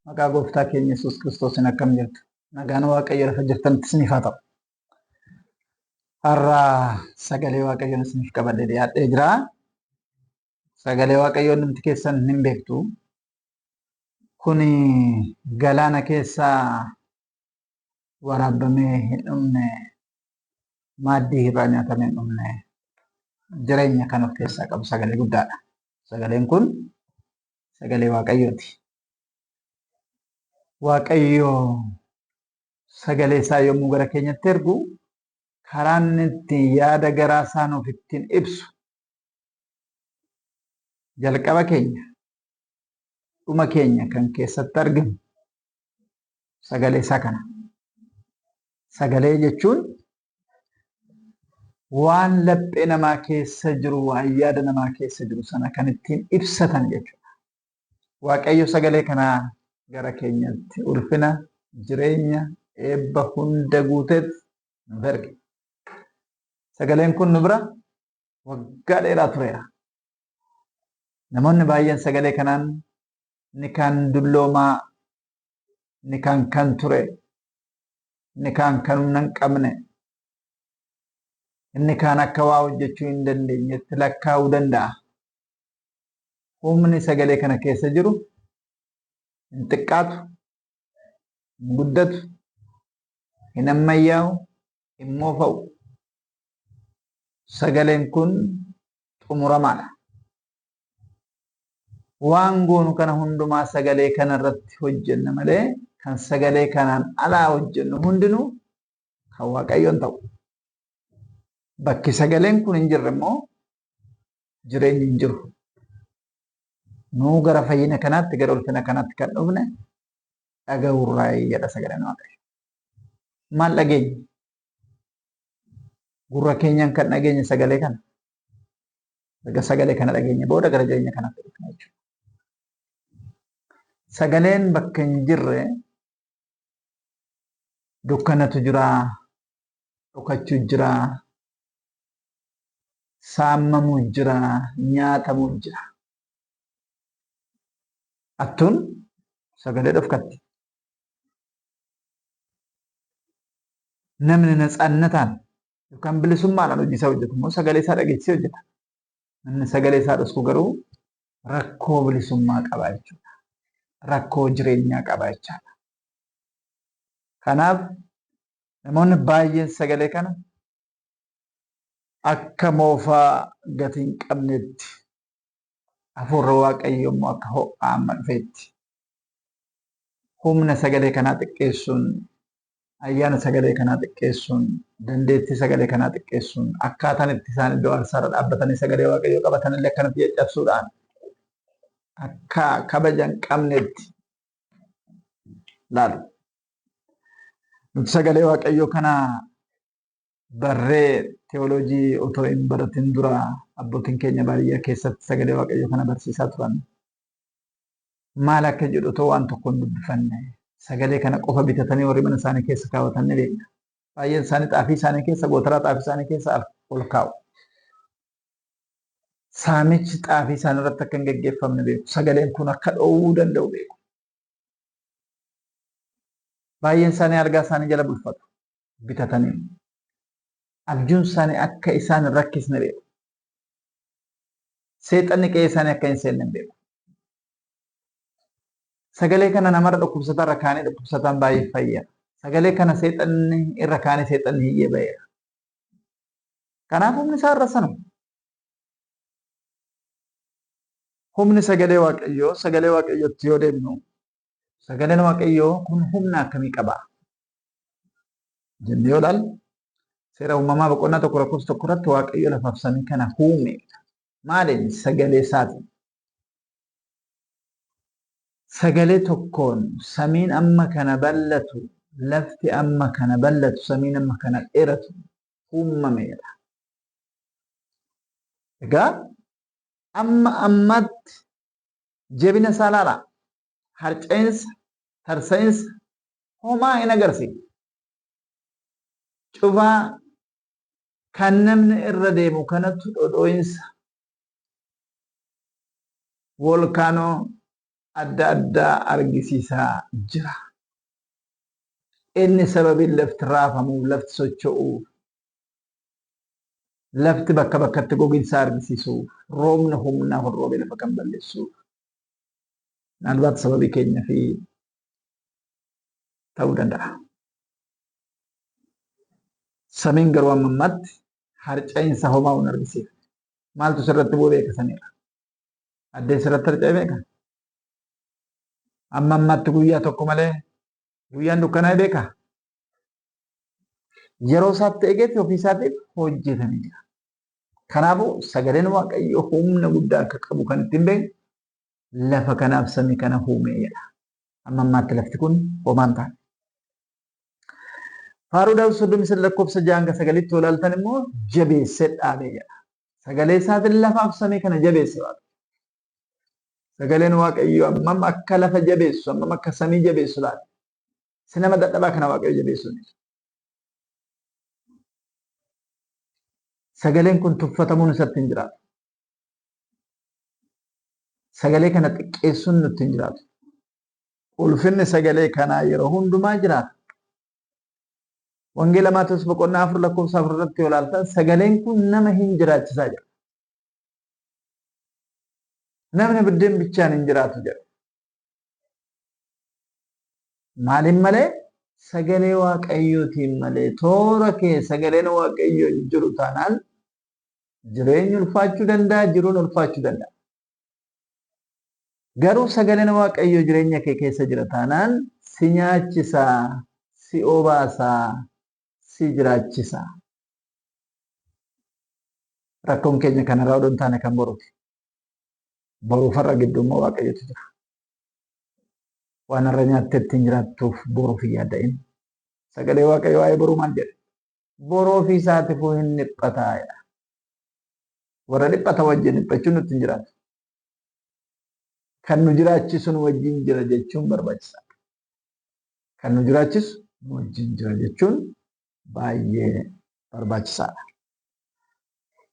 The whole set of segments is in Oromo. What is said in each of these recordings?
Maqaa gooftaa keenya Yesuus Kiristoosiin akkam jirtu? Nagaan Waaqayyo lafa jirtanitti isiniif haa ta'u. Har'a sagalee Waaqayyoon isiniif qabadhee dhiyaadhee jira. sagalee waaqayyoo namti keessan hin beektu kun galaana keessaa waraabamee hin dhumne maaddii irraa nyaatamee hin dhumne jireenya kan of keessaa qabu sagalee guddaadha. Sagaleen kun sagalee waaqayyooti. Waaqayyo sagalee isaa yommuu gara keenyatti ergu karaan itti yaada garaa isaa nuuf ittiin ibsu jalqaba keenya dhuma keenya kan keessatti arginu sagalee isaa kana. Sagalee jechuun waan laphee namaa keessa jiru, waan yaada namaa keessa jiru sana kan ittiin ibsatan jechuudha. Waaqayyo sagalee kanaa gara keenyatti ulfina, jireenya, eebba hunda guuteef nuuf erge. Sagaleen kun nu bira waggaa dheeraa tureera. Namoonni baay'een sagalee kanaan nikaan dulloomaa, nikaan kan ture, nikaan kan humna hin qabne, inni kaan akka waa hojjechuu hin dandeenyetti lakkaa'uu danda'a. Humni sagalee kana keessa jiru hin xiqqaatu, hin guddatu, hin ammayyaa'u, hin moofa'u. Sagaleen kun xumuramaadha. Waan goonu kana hundumaa sagalee kana irratti hojjenna malee kan sagalee kanaan alaa hojjennu hundinuu kan Waaqayyoon ta'u. Bakki sagaleen kun hin jirre immoo jireenyi hin jiru. Nuu gara fayyina kanaatti gara ulfina kanaatti kan dhufne dhaga'uurraa jedha sagaleen Waaqayyo. maal dhageenya? Gurra keenyaan kan dhageenya sagalee kana. Erga sagalee kana dhageenya booda gara jireenya kanaatti dhufna jechuudha. Sagaleen bakka hin jirre dukkanatu jira, dhokachuu jira, saamamuu jira, nyaatamuu jira. Attuun sagalee dhofkatti. Namni natsaannataan yookaan bilisummaadhaan hojii isaa hojjetu immoo sagalee isaa dhageessisee hojjeta. Namni sagalee isaa dhosku garuu rakkoo bilisummaa qaba jechuudha. Rakkoo jireenyaa qaba jechaadha. Kanaaf namoonni baay'een sagalee kana akka moofaa gatii hin qabneetti Hafuurri Waaqayyoo immoo akka ho'aa amma dhufeetti humna sagalee kanaa xiqqeessuun, ayyaana sagalee kanaa xiqqeessuun, dandeettii sagalee kanaa xiqqeessuun, akkaataan itti isaan iddoo aarsaarra dhaabbatanii sagalee Waaqayyoo qabatan illee akkanatti caccabsuudhaan akka kabaja hin qabnetti laalu. Nuti sagalee Waaqayyoo kana barree teoloojii otoo hin baratin dura abbootiin keenya baadiyyaa keessatti sagalee waaqayyoo kana barsiisaa turan. Maal akka jedhu otoo waan tokko hin dubbifanne sagalee kana qofa bitatanii warri mana isaanii keessa kaawwatan ni beekna. Baay'een isaanii xaafii isaanii keessa gootaraa xaafii isaanii keessa ol kaa'u. Saamichi xaafii isaanii irratti akka hin geggeeffamne beeku. Sagaleen kun akka dhoowwuu danda'u beeku. Baay'een isaanii algaa isaanii jala bulfatu. bitatanii abjuun isaanii akka isaan hin rakkisne beeku. Seexanni qe'ee isaanii akka hin seenne beeku. Sagalee kana namarra dhukkubsataa irra kaanii dhukkubsataan baay'ee fayyada. Sagalee kana seexanni irra kaanii seexanni hiyyee ba'eera. Kanaaf humni isaa irra sanuma. Humni sagalee waaqayyoo sagalee waaqayyootti yoo deemnu Sagaleen Waaqayyoo kun humna akkamii qaba? Jennee yoo ilaallu seera uumamaa boqonnaa tokko lakkoofsa tokko irratti Waaqayyo lafaaf samii kana uume. Maaliin? Sagalee isaatiin. Sagalee tokkoon samiin amma kana bal'atu, lafti amma kana bal'atu, samiin amma kana dheeratu uumameera. Egaa amma ammatti Jabina isaa ilaalaa. Harca'insa, tarsa'insa homaa hin agarsiifne. Cufaa kan namni irra deemu kanatu dhodhoo'insa voolkaanoo adda addaa argisiisaa jira. Inni sababiin lafti raafamuuf, lafti socho'uuf Lafti bakka bakkatti goginsa argisiisuuf, roobni humnaa kun roobee lafa kan balleessuuf, naalbaat sababii keenya fi ta'uu danda'a. Samiin garuu amma ammaatti harca'iinsa homaa hin argisiifne. Maaltu sirratti bu'e beeka samiirra? Addeen sirratti harca'e beeka? Amma ammaatti guyyaa tokko malee guyyaan dukkanaa'e beeka? yeroo isaatti eegetti ofii isaatiif hojjetanii jira. Kanaafuu sagaleen Waaqayyoo humna guddaa akka qabu kan ittiin beeknu lafa kanaaf samii kana uumee jedha. Amma ammaatti lafti kun homaan taate. Faaruu Daawit soddomii sadii lakkoofsa ja'a hanga sagalitti yoo ilaaltan immoo jabeessee dhaabee jedha. Sagalee isaatiin lafaaf samii kana jabeesse Waaqayyo. Sagaleen Waaqayyoo ammam akka lafa jabeessu, ammam akka samii jabeessu laata? Isa nama dadhabaa kana waaqayyo jabeessuun isa. Sagaleen kun tuffatamuun isatti hin jiraatu. Sagalee kana xiqqeessuun nutti hin jiraatu. Ulfinni sagalee kanaa yeroo hundumaa jiraata. Wangeela Maatewos boqonnaa afur lakkoofsa afur irratti yoo ilaaltan sagaleen kun nama hin jiraachisaa jira. Namni biddeen bichaan hin jiraatu jedha. Maaliin malee? Sagalee Waaqayyootiin malee toora kee sagaleen Waaqayyoo hin jiru taanaan jireenyi ulfaachuu danda'a, jiruun ulfaachuu danda'a. Garuu sagaleen Waaqayyoo jireenya kee keessa jira taanaan si nyaachisa, si obaasa, si jiraachisa. Rakkoon keenya kanarraa odoo hin taane kan boruuti. Boruuf har'a gidduu immoo waaqayyotu jira. Waan har'a nyaattee ittiin jiraattuuf boruuf hin yaada'in. Sagalee waaqayyo waa'ee boruu maal jedhe? Boroo fi saatifuu hin dhiphataa jedha. Warra dhiphata wajjin dhiphachuun nutti hin jiraatu. Kan nu jiraachisu nu wajjin jira jechuun barbaachisaa dha. Kan nu jiraachisu nu wajjin jira jechuun baay'ee barbaachisaa dha.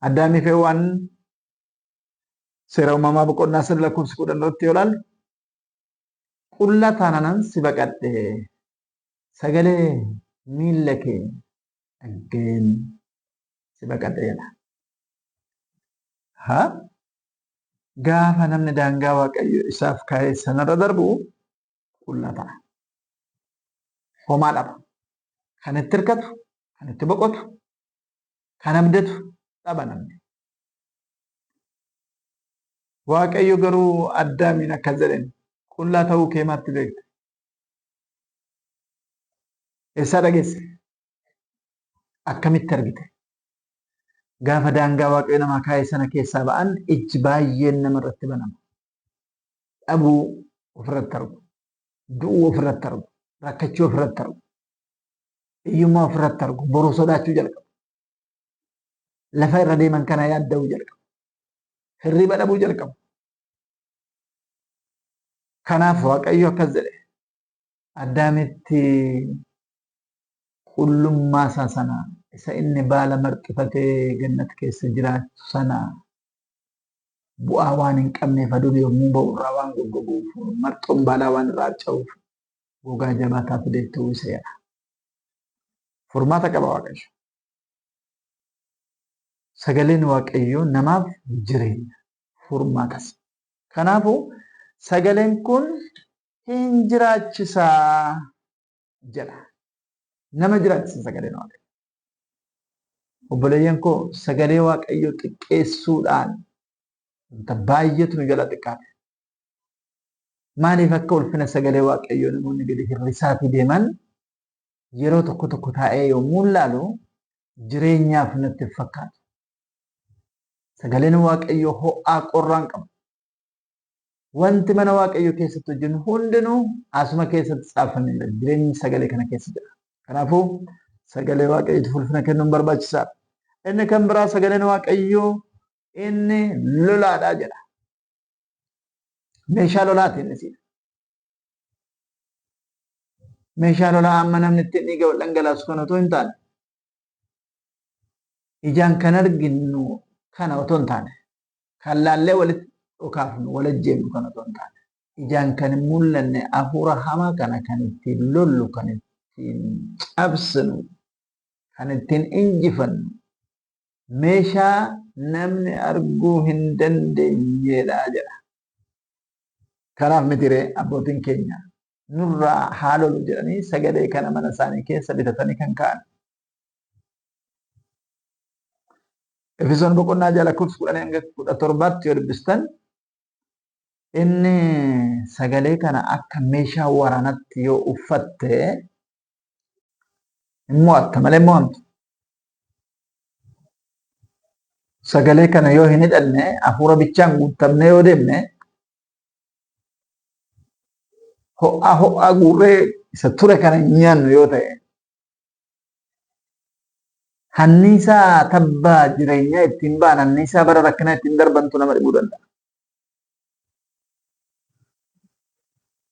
Addaamii fi Hewwaan Seera uumamaa boqonnaa sadi lakkoofsa kudhan irratti yoo ilaalle qullaa taananan si baqadhe sagalee miilla kee dhaggeen si baqadhe jedha. Ha? Gaafa namni daangaa waaqayyo isaaf kaa'e sanarra darbu qullaa ta'a. Homaa dhaba. Kan itti hirkatu, kan itti boqotu, kan abdatu dhaba namni. Waaqayyo garuu Addaamiin akkas jedheen qullaa ta'uu kee maatti beekte? Eessaa dhageesse? Akkamitti argite? Gaafa daangaa Waaqayyo namaa kaa'e sana keessaa ba'an ijji baay'een nama irratti banama. dhabuu ofirratti argu, du'uu ofirratti argu, rakkachuu ofirratti argu, hiyyummaa ofirratti argu, boru sodaachuu jalqabu. Lafa irra deeman kana yaadda'uu jalqabu. Hirriba dhabuu jalqabu. Kanaaf Waaqayyo akkas jedhe, Addaamitti qullummaa isaa sana isa inni baala marxifatee gannat keessa jiraachu sana bu'aa waan hin qabneef aduun yommuu ba'u irraa waan goggoguuf marxoon baalaa waan irraa harca'uuf gogaa jabaataa fideetti uwwiseera. Furmaata qaba Waaqayyo. Sagaleen Waaqayyoo namaaf jireenya furmaatas. Kanaafuu sagaleen kun hin jiraachisa jedha. Nama jiraachisa sagaleen waaqayyo. Obboleeyyan koo sagalee waaqayyo xiqqeessuudhaan wanta baay'eetu nu jala xiqqaate. Maaliif akka ulfina sagalee waaqayyoo namoonni gadi hir'isaatii deeman yeroo tokko tokko taa'ee yommuu ilaalu jireenyaaf natti fakkaata. Sagaleen waaqayyoo ho'aa qorraan qabu. Wanti mana Waaqayyoo keessatti hojjennu hundinuu asuma keessatti caaffameera. Jireenyi sagalee kana keessa jira. Kanaafuu sagalee Waaqayyootiif ulfina kennuun barbaachisaadha. Inni kan biraa sagaleen Waaqayyoo inni lolaadha jedha. Meeshaa lolaati inni siidha. Meeshaa lolaa amma namni ittiin dhiiga wal dhangalaasu kan otoo hin taane ijaan kan arginu kana otoo hin taane kan laallee walitti dhokaafnu wal ajjeefnu kana otoo hin taane ijaan kan hin mul'anne hafuura hamaa kana kan ittiin lollu kan ittiin cabsinu kan ittiin injifannu meeshaa namni arguu hin dandeenyedha jedha. Kanaaf mitiree abbootiin keenya nurraa haa lolu jedhanii sagalee kana mana isaanii keessa bitatanii kan ka'an. Efesoon boqonnaa ja'a lakkoofsa kudhanii hanga kudha torbaatti yoo dubbistan inni sagalee kana akka meeshaa waraanatti yoo uffatte hin mo'atta malee hin mo'amtu. Sagalee kana yoo hin hidhanne hafuura bichaan guuttamnee yoo deemne ho'aa ho'aa guurree isa ture kana hin nyaannu yoo ta'e hanniisaa tabbaa jireenyaa ittiin ba'an hanniisaa bara rakkinaa ittiin darbantu nama dhibuu danda'a.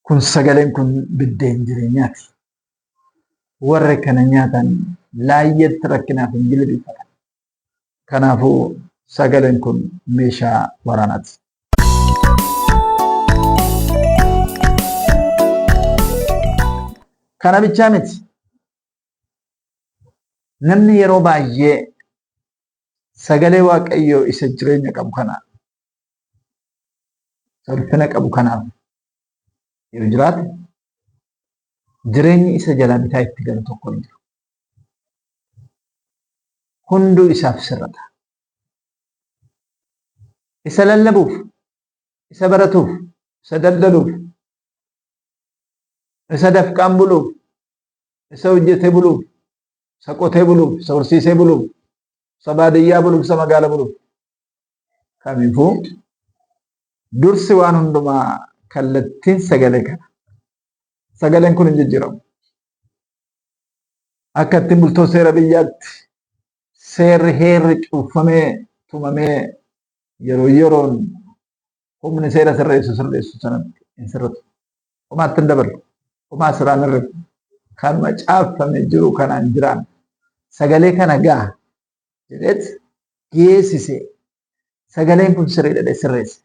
Kun sagaleen kun biddeen jireenyaati. Warri kana nyaatan laayyatti rakkinaaf hin jilbiifatan. Kanaafuu sagaleen kun meeshaa waraanaati. Kana bichaa miti. Namni yeroo baay'ee sagalee Waaqayyoo isa jireenya qabu kana ulfina qabu kanaaf yoo jiraate jireenyi isa jalaa bitaa itti galu tokko hin jiru. hunduu isaaf sirra ta'a. Isa lallabuuf, isa baratuuf, isa daldaluuf, isa dafqaan buluuf, isa hojjetee buluuf, isa qotee buluuf, isa horsiisee buluuf, isa baadiyyaa buluuf, isa magaala buluuf. Kamiifuu dursi waan hundumaa kallattiin sagalee kana. Sagaleen kun hin jijjiiramu. akka ittiin bultoo seera biyyaatti seerri heerri cuunfamee tumamee yeroo yeroon humni seera sirreessu sirreessu sanatti hin sirratu. Homaatti hin dabalu. Homaa siraan irra kanuma caaffame jiru kanaan jiraan sagalee kana gaha jedheet geessise Sagaleen kun sirriidha sirreessi.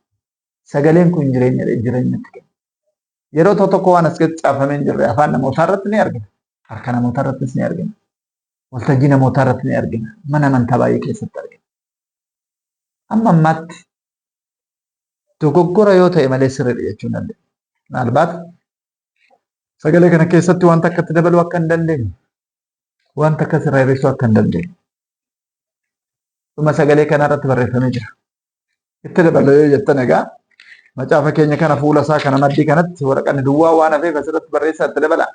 Sagaleen kun jireenyadha jireenyatti kenna. Yeroo tokko tokko waan as keessatti caafamee hin jirre afaan namootaa irratti ni argina. Harka namootaa irrattis ni argina. Waltajjii namootaa irratti ni argina. Mana amantaa baay'ee keessatti argina. Amma ammaatti dogoggora yoo ta'e malee sirriidha jechuun dandeenya. Maalbaat sagalee kana keessatti wanta akkatti dabaluu akka hin dandeenye waan takka sirraa hir'isuu akka hin dandeenye. Dhuma sagalee kanaa irratti barreeffamee jira. Itti dabaloo yoo jettan egaa macaafa keenya kana fuula isaa kana maddii kanatti waraqanni duwwaa waan hafeef asirratti barreessaa itti dabalaa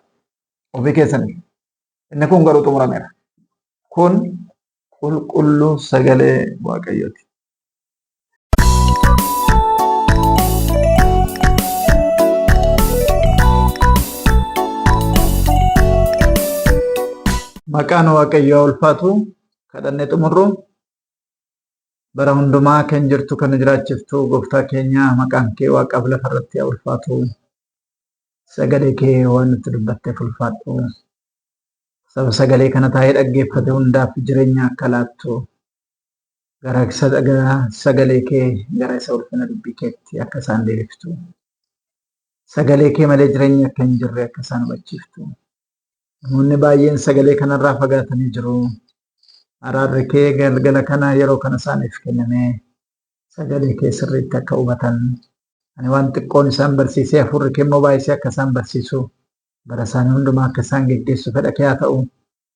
ofii keessaniif. Inni kun garuu xumurameera. Kun qulqulluu sagalee Waaqayyooti. Maqaan Waaqayyoo ulfaatu kadhannee xumurru bara hundumaa kan jirtu kan jiraachiftu gooftaa keenya maqaan kee waaqaaf lafa irratti haa ulfaatu. Sagalee kee waan nutti dubbatteef ulfaadhu. Saba sagalee kana taa'ee dhaggeeffate hundaaf jireenya akka laattu gara sagalee kee gara isa ulfina dubbii keetti akka isaan deebiftu sagalee kee malee jireenya akka hin jirre akka isaan hubachiiftu namoonni baay'een sagalee kanarraa fagaatanii jiru araarri kee galgala kana yeroo kana isaaniif kenname sagalee kee sirriitti akka hubatan ani waan xiqqoon isaan barsiisee hafuurri kee immoo baay'isee akka isaan barsiisu bara isaanii hundumaa akka isaan geggeessu fedha kee haa ta'u